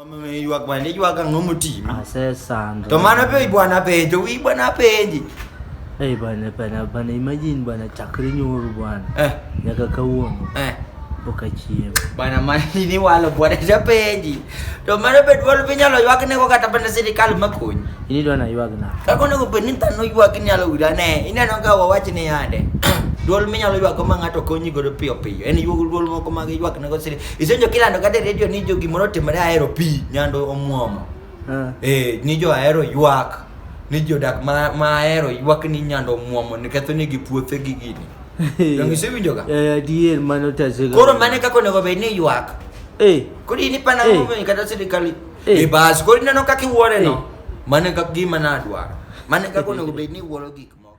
Ameiwa kwa ndio kwa kanga muti. Ah sasa ndo. Tomana pe bwana penje, wi bwana penje. Eh bwana bwana bwana imagine bwana chakri nyoro bwana. Eh. Yaka kauono. Eh. Boka chiem. Bwana mani ni walo bwana ja penje. Tomana pe dwalo pe nyalo ywak ne ko kata bana sirikal makonyi. Ini dwana ywak na. Kako ne ko pe ni tano ywak ni alo ura ne. Ina no ka wawach ni yande. Dwol minyalo ywak ma ng'ato konyi godo piyo piyo. En ywak dwol moko mag ywak ne ko sirikal. Isenjo kilando kata e redio ni jo gimoro otimore ahero pi nyando omwomo. Ah. Eh, ni jo ahero ywak. Ni jodak ma, ma ahero ywak ni nyando omwomo niketho negi puothe gi gini. Donge isewinjoga? Eh, adier mano tasega. Koro mane kaka onego bed ni ywak. Eh, Koro in ipana Eh. ng'ombe kata sirikal. Eh. E bas, koro ineno kaka iwuore no. Eh. Mane kaka gima nadwaro. Mane kaka onego bed ni iwuoro gik moko.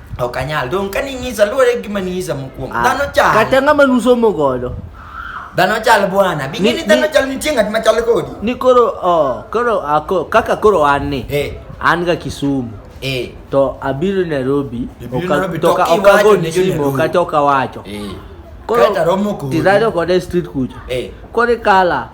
Ok anyal. Dong ka ning'isa luwore gi gima ning'isa mokwongo. Ah, Dhano chal. Kata ng'ama nusomo godo. Dhano chal bwana. Bi ng'e Ni- ni dhano ni- chal nitie ng'at ma chal kodi. Ni koro oh, koro ako, kaka koro an ni. Eh. An ga Kisumu. Eh. To abiro Nairobi. Ibiro oka- Nairobi, to to ka- kiwacho okago ni ni simu Nairobi. kata okawacho. Eh. Koro Kata romo kodi. tidhado kode street kucha. Eh. Koro ikala.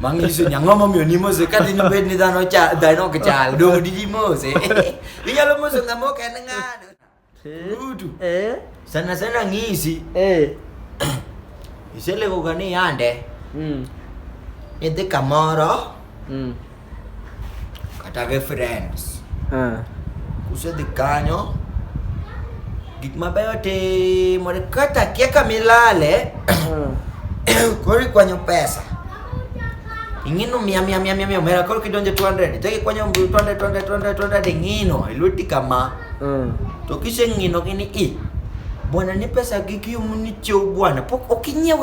Mang isu nyang ngomong yo nimo se kan dino bed ni dano cha dino kechal do di dimo se. Inya lo musu ngamo kenengan. Udu. Eh. Sana sana ngisi. Eh. Isele ko gani yande. Mm. Ede kamoro. Mm. kata gi friends ah. kusedhi kanyo gik mabeyo timore kata kia kamilale ah. koro ikwanyo pesa ing'ino mia mia mia mia mia omera koro kidonje 200 chak ikwanyo 200 200 200 200 ing'ino e lweti kama ah. to kiseng'ino gini i bwana ni pesa gi kiumu ni chew bwana pok ok inyiew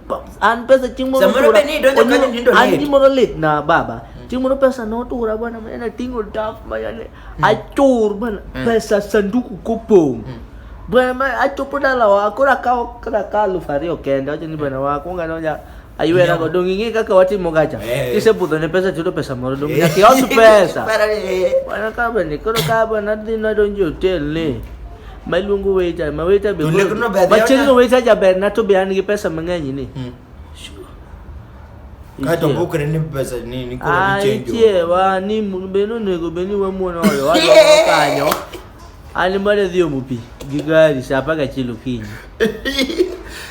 An pesa chieng' moro Samoro otura- be ni idonjo kanyo onyo- nindo an liet. gimoro lit na baba chieng' moro pesa notura bwana mane ating'o taf mayane achur bwana pesa sanduku kopong' bwana ma achopo dalawa koro akawo koro akawo aluf ariyo kende wacho ni bwana wakwonga nonya aywera go dong ing'e kaka watimo gacha Eh. kisebudho ne pesa tiyudo pesa moro dong nyaka ios pesa Para ni, eh, Bwana kabani, koro kabani adhi nadonjo e hotel ni. ma iluongo waiter ma waiter be To koro- lekno be ma chieng' no odhi- waiter jaber na to be an gi pesa mang'eny ni Mm. Kato Ichiew. bukre ni pesa ni ni koro Ah, ni change. ichiewa ni mu- be nonego be ni wamuono oyo wadoko kanyo an mane dhi omo pi gi gari sa apar gachiel okinyi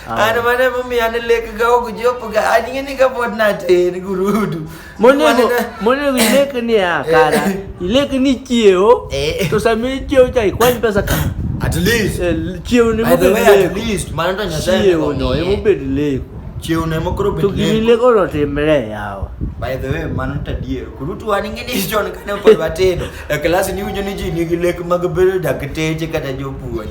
An mane momiyo an lek ga ok jop ga an ng'e ni ka pod natin gurudu. Monego monego ilek ni ya kara. Ilek ni chieo. Eh. To sami mi chieo cha ikwany pesa ka. At least. Eh, chieo ni mo be. At least mano to nyasaye. Chieo no e mo be lek. Chieo ne mo kro be. To gini lek oro timre yawa. By the way mano to dier. Kuru tu an ngini John kane pod watedo. E class ni unyo ni ji ni gi lek mag bedo dakteche kata jopuonj.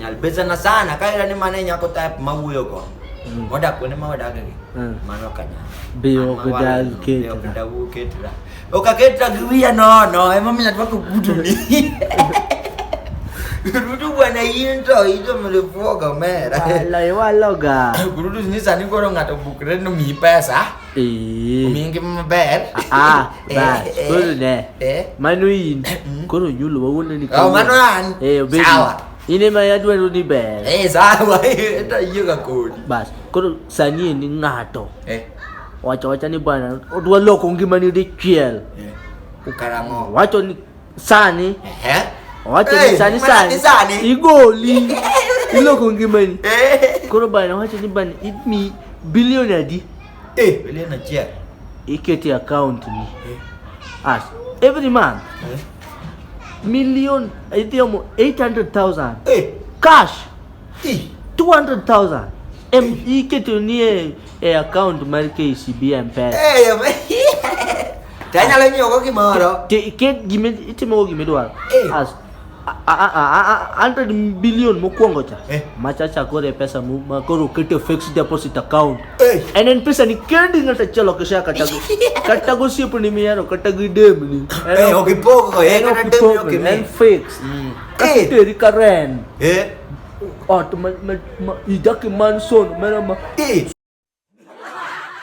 Nyalbeza na sana kaira ni mane nyako type mawuyo go. Mm. Moda kwene ma wadaga gi. Mm. Mano kanya. Biyo kuda ketra. Kuda wu ketra. Oka ketra giwia no no ema mimi nataka kugudu ni. Rudu bwana into hizo mlivuoga mera. Wala waloga. Rudu ni sani koro ngato bukre no mi pesa. Ee. Omiyo ngima maber. Ah, Eh, bas, eh, koro ne. eh. Mano in. Koro nyulo wawuondo ni Oh, mano an. Eh, obedi. Sawa. In ema adwaro ni ber. Eh, sawa. Enda yiega kodi. Bas, koro sani en ni ng'ato. Eh. Wacho wacha ni bwana, odwa loko ngimani dichiel. Eh. Karang'o? Wacho ni Sani. Eh? Wacho ni sani sani. Sani. Igoli. Iloko ngimani. Eh. Koro bana wacho ni bana idmi bilioni adi? Eh, bilioni achiel. Ikete account ni. Eh. As every month. Eh? Million idhi omo 800,000. Eh. Cash. Eh. 200,000. Em ikete ni e account mar KCB M-Pesa. Eh, yo, to anyalo nyiewogo gimoro. Ti- Ket gime itimogo gima idwaro. Eh. As a- a- a- a- a- 100 billion mokwongo cha. Eh. Machacha koro e pesa mu- ma koro oket e fixed deposit account. Eh. En en pesa ni kendi ng'ato achiel ok isea kata go- kata gosiepni mihero kata gi demni. En Eh, ok- ok ipogo, eh, en ok kata demni ipogo, ok imi. En fixed. Mm. Kasi Eh. teri ka rent. Eh, Artı ma, ma, ma, idaki manson mera ma. Eh.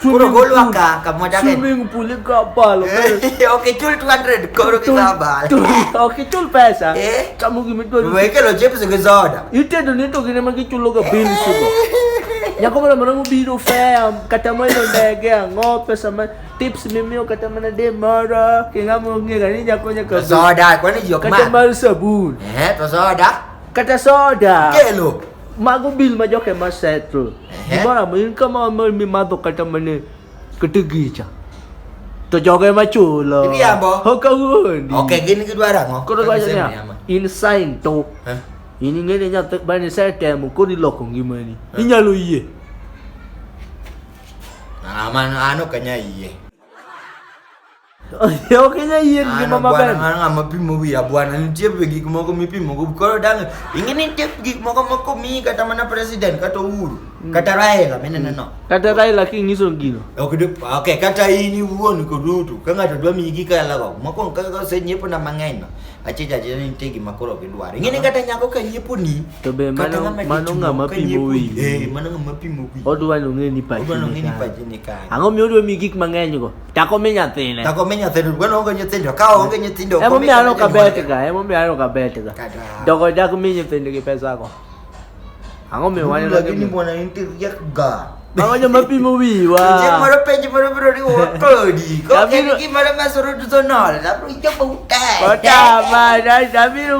Puro gol wa ka ka moja ke. Swimming pool ka bal. Okay chul 200 koro ki sa bal. Okay chul pesa. Eh. Kamu ki mitwa. Wewe ke lo chips ke soda. Ite do ni to gine ma ki chulo ga bill sugo. Nyako mara mara mubiro fea kata mwendo ndege ang'o pesa ma tips mimi kata mana de mara kingamo ngega ni nyako nyaka soda kwani jok ma kata mar sabun eh to soda Kata soda. Kelo. Mago bil ma joke ma settle. Ehe. Gimoro amora in kama ma mimadho kata mane kata gicha. To joge ma chulo. Iriambo. Ok awuondi. Okay, gin gidwaro ang'o? Koro Kata gwacho niya, gisemiyama. in sign to. Eh? In ing'e ni nyathi bani setemo koro iloko ngimani. Eh. Inyalo yie. Ah, man, an ok anyal yie. ok inyal yier gi ngima maber an ng'a mapimo wiya bwana nitie be gik moko mipimo go koro dang' ing'e ni nitie gik moko moko miyi kata mana president kata uhuru mm. kata raila minene no mm. kata raila king'iso gino ok ok kata in iwuon kod ruto ka ng'ato dwa miyi gik ayalago mokwongo kaka osenyiepo na mang'eny no achicha achicha ni nitie gima koro gidwaro ing'e ni kata nyako ka nyiepo ni to be mano mano ng'a mapimo wiyi eh mano ng'a mapimo wiyi odwa ni ong'e ni pachi ni kanye ang'o miyo odwa miyi gik mang'eny go Tako mi nyathine. Tako mi nyathine. Gweno onge nyithindo. Ka onge nyithindo. Emo mi aneno ka bet ga. Emo mi aneno ka bet ga. Dogo jak mi nyithindo gi pesa go. Ang'o mi wanyo lagi ni mwana inti yak ga. Mawanyo mapimo wiwa. Je moro penjo moro biro riwo kodi. Ko en gimoro masoro to sonol. Abiro chopo utek. Kota ma, abiro